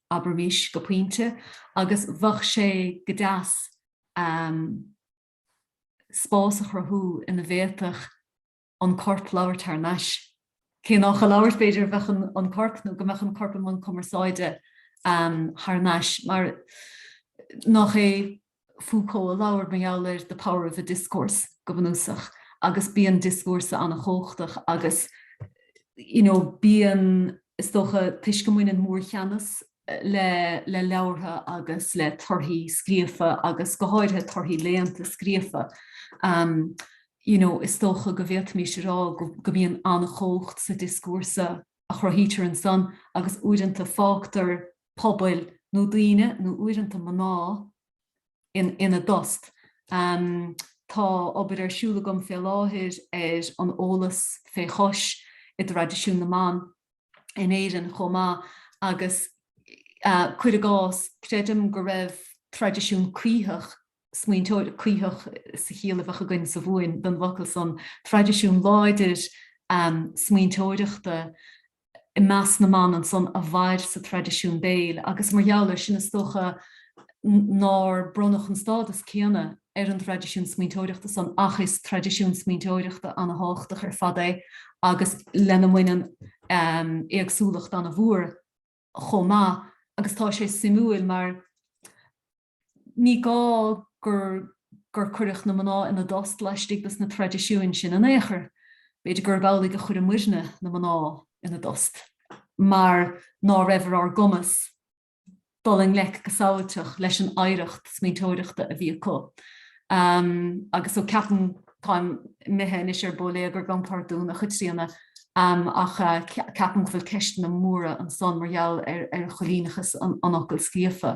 abraimis, go pointe, agus bheadh sé go deas spás a chruthú ina bhféadfadh an corp labhairt thar nais. Cé nach ag labhairt, b'fhéidir, a bheadh an corp, nó go mbeadh an corp i mbun cumarsáide thar nais, mar nach é? Foucault a labhair mar gheall ar the power of a discourse go bunúsach agus bíonn dioscúrsa an-chumhachtach agus you know bíonn, is dócha, toisc go mbaineann mórcheannas le le leabhartha agus le torthaí scríofa agus go háirithe torthaí léannta scríofa ehm you know is dócha go bhféadfaimis a rá go go mbíonn an-chumhacht sa dioscúrsa a chruthaítear ansan agus uaireanta fágtar pobail nó daoine, nó uaireanta mná, ina dtost. Tá obair ar siúl agam fé láthair ar an eolas fé chois i dtraidisiún na mban in Éirinn chomh maith agus, cuir i gcás, creidim go raibh traidisiún cuítheach, smaointeoireacht, cuítheach sa chiall a bheadh againn sa Mhumhain don bhfocal san, traidisiún láidir smaointeoireachta, i measc na mban ansan a mhair sa traidisiún béil agus mar gheall air sin is dócha nár bronnadh an stádas céanna ar an dtraidisiún smaointeoireachta san ach is traidisiún smaointeoireachta ana-thábhachtach ar fad é agus lena mbaineann éagsúlacht ana-mhór chomh maith agus tá sé suimiúil mar ní gá gur gur cuireadh na mná ina dtost laistigh de na traidisiúin sin in aon chor. B'fhéidir gurb amhlaidh a chuir muidne na mná ina dtost mar ná raibh ar ár gcumas dul i ngleic go samhailteach leis an oidhreacht smaointeoireachta a bhí acu. Agus so ceapaim, táim imithe anois ar bóiléagar, gabhaim pardún, a Chaitríona, ach ceapaim go bhfuil ceisteanna móra ansan mar gheall ar choilíneachas an fhocail scríofa.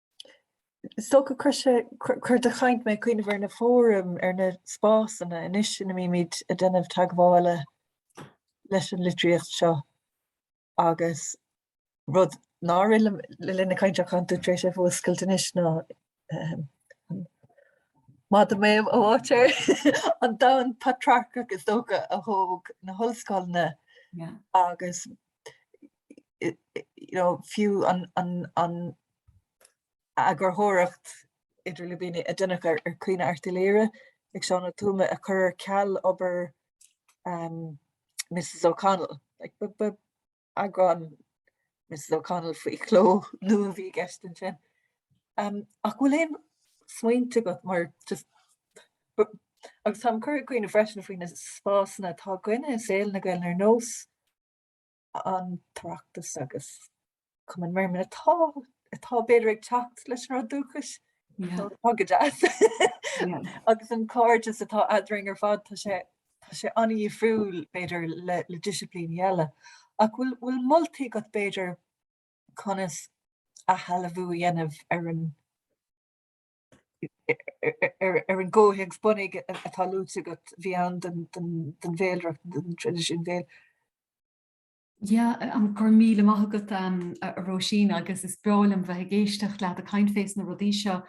Is dócha chuir sé, chuir do chaint mé ag cuimhneamh ar na fóraim, ar na spásanna anois ina mbímid ag déanamh teagmhála leis an litríocht seo agus rud nár rith liom le linn na cainte ach tá tú tar éis é a fhuascailt anois ná an maidir le m'áit ar an domhan patrarcach is dócha a thóg na hollscoileanna agus fiú an eagarthóireacht idir lúibíní a déanadh ar Chaoineadh Airt Uí Laoghaire ag Seán Ó Tuama a chur ar ceal obair Mrs O'Connell. Ba eagrán Mrs O'Connell faoi chló nua a bhí i gceist ansin. Ach bhfuil aon smaointe agat mar just, agus tá mé curtha ag cuimhneamh freisin faoi na spásanna atá againn i saol na Gaeilge ar nós an tOireachtas agus Cumann Merriman atá atá b'fhéidir ag teacht leis an dúchas tá a fhios agat agus an cairdeas atá eadrainn ar fad tá sé tá sé an-difriúil b'fhéidir le le disciplín eile ach bhfuil bhfuil moltaí agat b'fhéidir conas athshealbhú a dhéanamh ar an ar an gcomhthéacs bunaidh atá luaite agat, a bhí ann don bhéalaireacht, don traidisiún béil. Yeah, go raibh míle maith agat a Róisín agus is breá liom bheith ag éisteacht leat ag caint fés na rudaí seo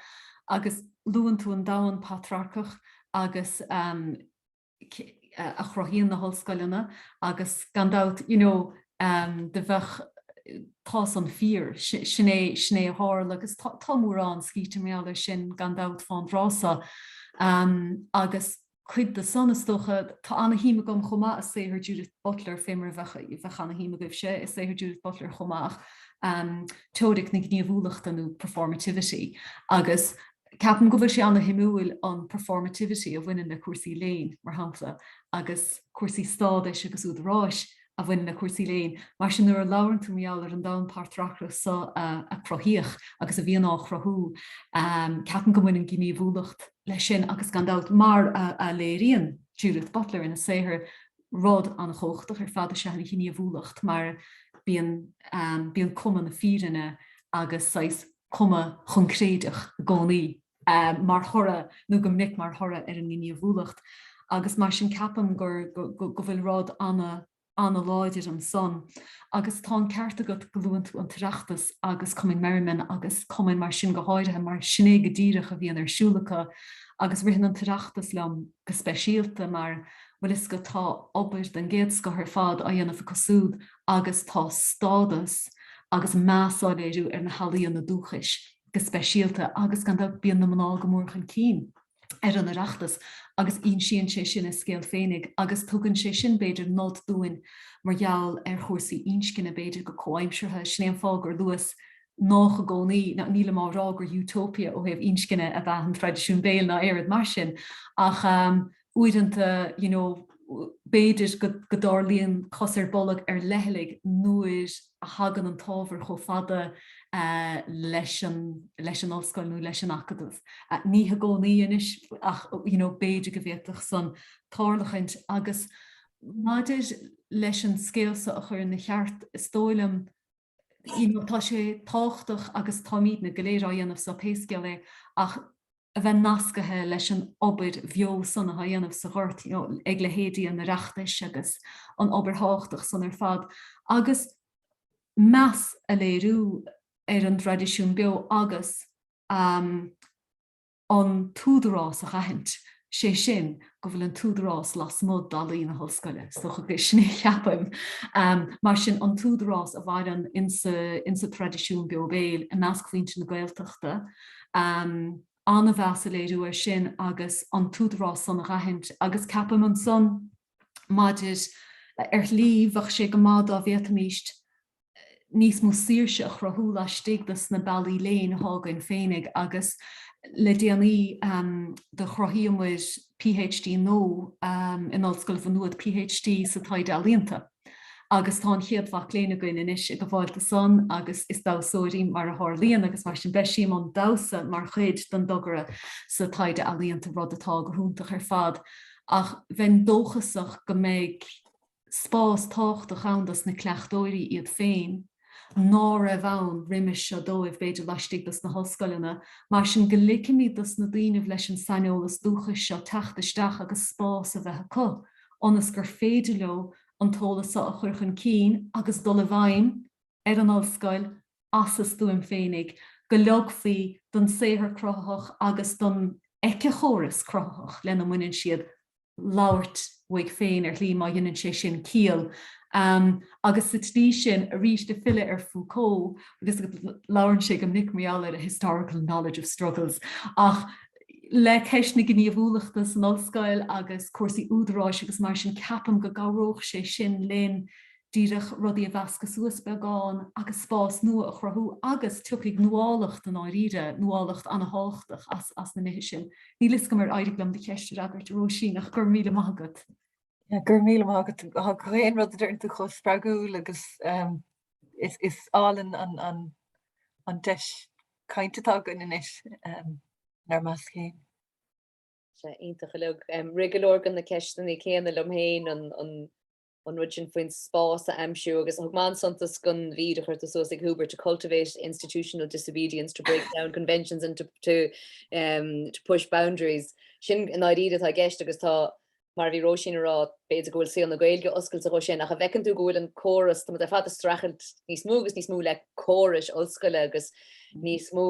agus luann tú an domhan patrarcach agus a chruthaíonn na hollscoileanna agus gan dabht you know do bheadh tá san fíor, sin é sin é a tharla agus tá tá mórán scríte mar gheall air sin gan dabht fán dtráth so agus cuid de san is dócha tá ana-shuim agam chomh maith i saothar Judith Butler fé mar a bheadh bheadh ana-shuim agaibhse i saothar Judith Butler chomh maith teoiric na gníomhúlachta nó performativity agus Ceapaim go bhfuil sé an-shuimiúil an performativity a bhaineann le cúrsaí léinn, mar shampla, agus cúrsaí stádais agus údaráis a bhaineann le cúrsaí léinn. Mar sin, nuair a labhrann tú mar gheall ar an domhan patrarcach so a cruthaíodh agus a bhíonn á chruthú, ceapaim go mbaineann gníomhúlacht leis sin agus gan dabht, mar a léiríonn Judith Butler ina saothar, rud an-chumhachtach ar fad is ea an ghníomhúlacht mar bíonn bíonn cuma na fírinne agus saghas. cuma choincréideach i gcónaí. mar thoradh, nó go minic mar thoradh ar an ngníomhúlacht agus mar sin ceapaim gur, go, go bhfuil rud ana, ana-láidir ansan agus tá an ceart agat go luann tú an tOireachtas agus Cumann Merriman agus cumainn mar sin go háirithe mar sin é go díreach a bhíonn ar siúl acu agus ritheann an tOireachtas liom go speisialta mar, bhuel is go, tá obair den gcéad scoth ar fad á dhéanamh acu súd agus tá stádas agus meas á léiriú ar na healaíona dúchais go speisialta agus, gan dabht, bíonn na mná go mór chun cinn ar an Oireachtas agus insíonn sé sin a scéal féinig agus tugann sé sin, b'fhéidir, nod dúinn mar gheall ar chúrsaí inscne, b'fhéidir, go comhaimseartha. Sin é an fáth gur luas nách i gcónaí, ná nílim á rá gur Utopia ó thaobh inscne ab ea an traidisiún béil ná aon rud, mar sin, ach. uaireanta, you know, b'fhéidir go dtarlaíonn cos ar bolg ar leithligh nuair a thagann an t-ábhar chomh fada leis an, leis an ollscoil nó leis an acadamh. Ní i gcónaí anois ach, you know, b'fhéidir go bhféadfadh san tarlachaint agus maidir leis an scéal so a chur ina cheart, is dóigh liom, you know, tá sé tábhachtach agus táimidne go léir á dhéanamh so pé scéal é ach a bheith nascaithe leis an obair bheo san atá á dhéanamh sa ghort, you know, ag leithéidí an Oireachtais agus an obair thábhachtach san ar fad agus meas a léiriú ar an dtraidisiún beo agus, um, an t-údarás a dh'aithint, sé sin, go bhfuil an t-údarás lasmuigh d'fhallaí na hollscoile. Is dócha gur sin é a cheapaim. Mar sin, an t-údarás a mhaireann insa traidisiún beo béil i measc mhuintir na Gaeltachta, ana-mheas a léiriú air sin agus an t-údarás san a dh'aithint agus ceapaim ansan, maidir, ar shlí, bheadh sé go maith dá bhféadfaimíst, níos mó saoirse a chruthú laistigh dos na bealaí léinn atá againn féinig agus le déanaí do chruthaíomair PhD nua in Ollscoil Mhá Nuad, PhD sa Taighde Ealaíonta agus tá an chéad mhac léinn againn anois ag gabháil do san agus is damhsóir í mar a tharlaíonn agus mar sin beidh sí i mbun damhsa mar chuid den dtogra sa Taighde Ealaíonta rud atá go hiúntach ar fad ach bheinn dóchasach go mbeidh spás tábhachtach ann dos na cleachtóirí iad féin ná raibh ann roimis seo dóibh, b'fhéidir, laistigh dos na hollscoileanna. Mar sin, go ligfimis dos na daoinibh leis an saineolas dúchais seo teacht isteach agus spás a bheith acu ionas gur féidir leo an t-eolas so a chur chun cinn agus dul i bhfeidhm ar an ollscoil as a stuaim féinig, go leogfaí don saothar cruthaitheach agus don eiceachóras cruthaitheach lena mbaineann siad labhairt uaidh féin, ar shlí, má dheineann sé sin ciall, agus sa tslí sin arís ag filleadh ar Foucault, agus labhrann sé go minic, mar gheall ar a historical knowledge of struggles, ach le ceist na gníomhúlachta san ollscoil agus cúrsaí údaráis agus mar sin, ceapaim go gcabhródh sé sin linn díreach rudaí a mheascadh suas beagán agus spás nua a chruthú agus tiocfaidh nuálacht i ndáiríre, nuálacht an-tábhachtach as as na nithe sin. Níl 'fhios agam ar éirigh liom do cheist a fhreagairt a Róisín ach go raibh míle maith agat. Go raibh míle maith agat, tá gach aon rud a deireann tú chomh spreagúil agus is is álainn an an an deis cainte atá againn anois in ár measc féin. Sea, iontach uilig. Rith go leor de na ceisteanna céanna liom féin an an an rud sin faoin spás a aimsiú agus thug mé an-suntas don mhír a chuir tú suas ag Hubert, to cultivate institutional disobedience, to break down conventions and to to push boundaries. Sin i ndáiríre atá i gceist agus tá, mar a bhí Róisín a rá, b'fhéidir go bhfuil saol na Gaeilge oscailte dhó sin ach an bhfeiceann tú go bhfuil an córas, tá muid ar fad ag streachailt níos mó agus níos mó le córais ollscoile agus níos mó,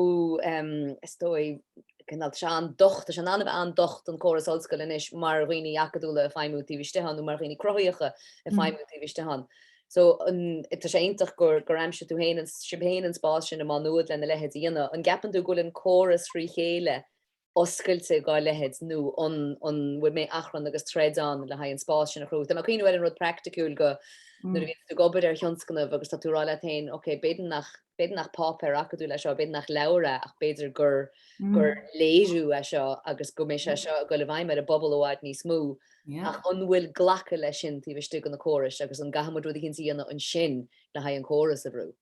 is dóigh, cineál, tá sé an-docht, tá sé in ann a bheith an-docht an córas ollscoile anois mar dhaoine acadúla ag feidhmiú taobh istigh ann nó mar dhaoine cruthaitheacha ag feidhmiú taobh istigh ann. So, an, tá sé iontach gur, gur aimsigh tú féin, sibh féin an spás sin i Má Nuad lena leithéid a dhéanamh. An gceapann tú go bhfuil an córas thrí chéile oscailte dhá leithéid nó an bhfuil an mbeidh achrann agus troid ann le haghaidh an spás sin a chruthú. Tá mé ag cuimhneamh ar an rud praiticiúil go nuair a bhíonn tú ag obair ar thionscnamh agus tá tú ag rá leat féin ok b'fhéidir nach b'fhéidir nach páipéar acadúil é seo, b'fhéidir nach leabhar é ach b'fhéidir gur gur léiriú é seo agus go mbeidh sé seo ag dul i bhfeidhm ar an bpobal i bhfad níos mó ach an bhfuil glacadh leis sin taobh istigh de na córais agus an gcaithfidh muid rud eicínt a dhéanamh ansin le haghaidh an córas a bhrú?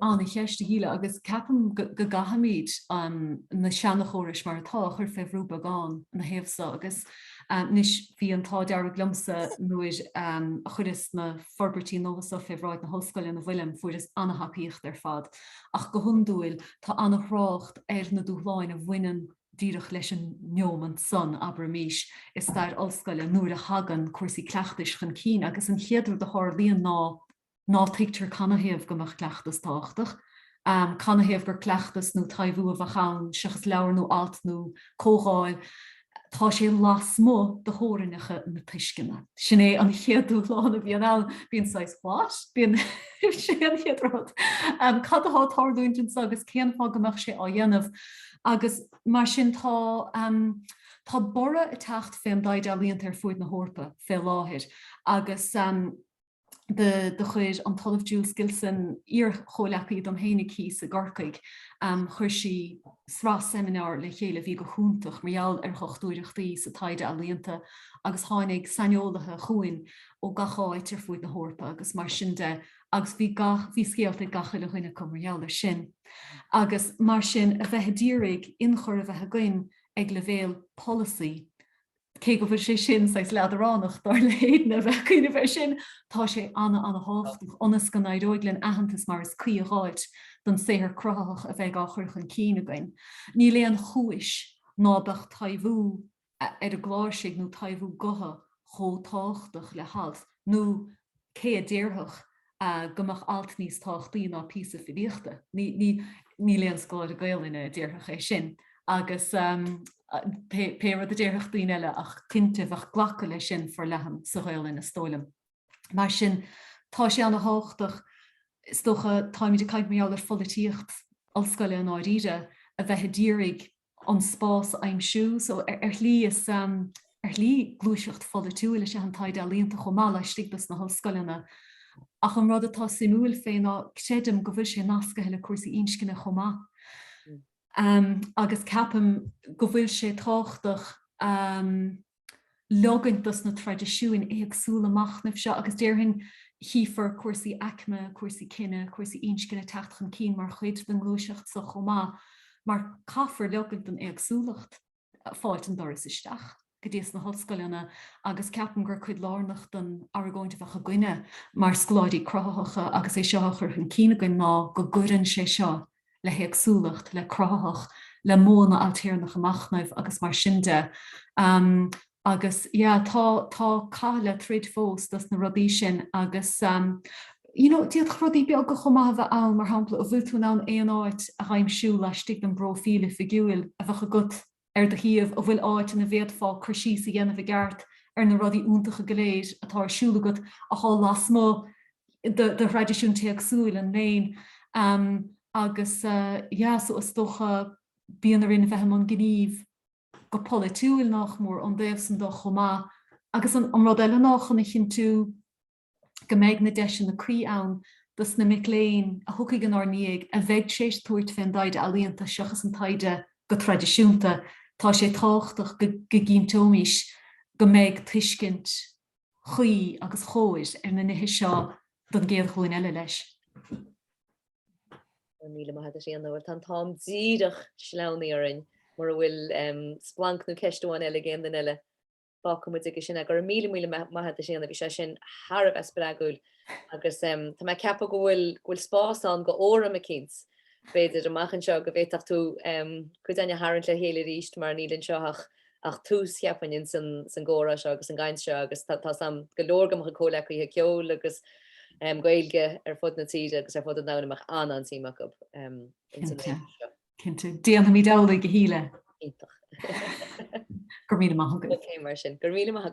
Ana-cheist, a Shíle, agus ceapaim go gcaithfimid na seanachórais mar atá a chur fé bhrú beagán ina thaobh so, agus anois bhí an t-ádh dearg liomsa nuair a chuireas na forbairtí nua so fé bhráid na hOllscoile ina bhfuilim, fuaireas ana-thacaíocht ar fad, ach go hiondúil tá ana-thrácht ar na dúshláin a bhaineann díreach leis an neomant san, abraimís, i stair Ollscoile nuair a thagann cúrsaí cleachtais chun cinn, agus an chéad rud a tharlaíonn ná ná tuigtear canathaobh go mbeadh cleachtas tábhachtach, canathaobh gur cleachtas nó taibhiú a bheadh ann seachas leabhar nó alt nó comhdháil, tá sé lasmuigh de theorainneacha na tuisceana. Sin é an chéad dúshlán a bhíonn ann, bíonn saghas What? bíonn, sé an chéad rud. Cad atá ag tarlúint anso agus cén fáth go mbeadh sé á dhéanamh? Agus mar sin tá, tá borradh ag teacht fén dtaighde ealaíonta ar fuaid na hEorpa fé láthair agus, de do chuir an tOllamh Jules Gilson, iar-chomhleacaí dom fhéinig thíos i gCorcaigh, chuir sí sraith seimineár le chéile a bhí go hiontach mar gheall ar dhochtúireachtaí sa taighde ealaíonta agus tháinig saineolaithe chugainn ó gach áit ar fuaid na hEorpa agus mar sin de agus bhí gach, bhí scéalta ag gach uile dhuine acu mar gheall ar sin. Agus mar sin a bheith a d'iarraidh inchur a bheith againn ag leibhéal polasaí, Cé go bhfuil sé sin saghas leadránach, dar le hAiden, a bheith ag cuimhneamh air sin, tá sé ana, ana thábhachtach ionas go n-éireoidh linn aitheantas mar is cuí a dh'fháilt don saothar cruthaitheach a bheidh á chur chun cinn againn. Níl aon chúis ná beadh taibhiú ar an gcláirsigh nó taibhiú gutha chomh tábhachtach le halt nó cé a déarfadh go mbeadh alt níos tábhachtaí ná píosa filíochta? Níl aon scoláire Gaoluinne a déarfadh é sin agus pé rud a déarfadh daoine eile ach cinnte bheadh glacadh leis sin forleathan sa Ghaoluinn is dóigh liom. Mar sin tá sé ana thábhachtach is dócha, táimid ag caint mar gheall ar pholaitíocht ollscoile i ndáiríre, a bheith ag iarraidh, an spás a aimsiú. So ar shlí, is ar shlí gluaiseacht pholaitiúil is ea an taighde ealaíonta chomh maith laistigh de sna hollscoileanna. Ach an rud atá suimiúil fé ná creidim go bhfuil sé nascaithe le cúrsaí inscne chomh maith. Agus ceapaim go bhfuil sé tábhachtach. leogaint dos na traidisiúin éagsúla machnaimh seo agus déarfainn chífear cúrsaí aicme, cúrsaí cine, cúrsaí inscne ag teacht chun cinn mar chuid den ngluaiseacht so chomh maith mar caithfear leogaint don éagsúlacht fáilt an doras isteach go dtí sna hollscoileanna agus ceapaim gur cuid lárnach den argóint a bheadh againne mar scoláirí cruthaitheacha agus é seo a chur chun cinn againn ná go gcuireann sé seo le héagsúlacht, le cruthaitheacht, le modhanna ailtéarnacha machnaimh agus mar sin de. Agus yeah tá tá cath le troid fós dos na rudaí sin agus um you know d'fhéadfadh rudaí beaga chomh maith a bheith ann, mar shampla an bhfuil tú in ann aon áit a aimsiú laistigh den bpróifíl oifigiúil a bheadh agat ar do shuíomh a bhfuil áit ina bhféadfá cur síos a dhéanamh i gceart ar na rudaí iontacha go léir atá ar siúl agat atá lasmuigh de thraidisiún téacsúil an léinn agus yeah so is dócha bíonn orainn a bheith i mbun gnímh go polaitiúil nach mór ón dtaobh san de chomh maith agus an rud eile ná chun a chinntiú go mbeidh na deiseanna cuí ann dos na mic léinn a thiocfaidh inár ndiaidh a bheidh tréis tabhairt fén dtaighde ealaíonta seachas an taighde go traidisiúnta, tá sé tábhachtach go gcinnteoimís go mbeidh tuiscint chuí agus cóir ar na nithe seo don gcéad ghlúin eile leis. Míle maith agat Éanna, bhuel tá an t-am díreach sleamhnaithe orainn mura bhfuil splanc nó ceist amháin eile ag aon duine eile. fágfaidh muid aige sin. Go raibh míle, míle maith agat a Sheána, bhí sé sin thar a bheith spreagúil agus tá mé ag ceapadh go bhfuil, go bhfuil spás ann go fóram eicínt, b'fhéidir, amach anseo go bhféadfadh tú cuid againn a tharraingt le chéile arís mar níl anseo ach ach tús, cheapfainn, ins an san gcomhrá seo agus an gcaint seo agus tá tá a fhios agam go leor go mba chomhghleacaithe ceoil agus Gaeilge ar fud na tíre agus ar fud an domhain a mbeadh an-an suim acub ins an réimse seo. Cinnte déanfaimid amhlaidh go hAoine. Iontach. Go raibh míle maith agat. Cé mar sin go raibh míle maith agat.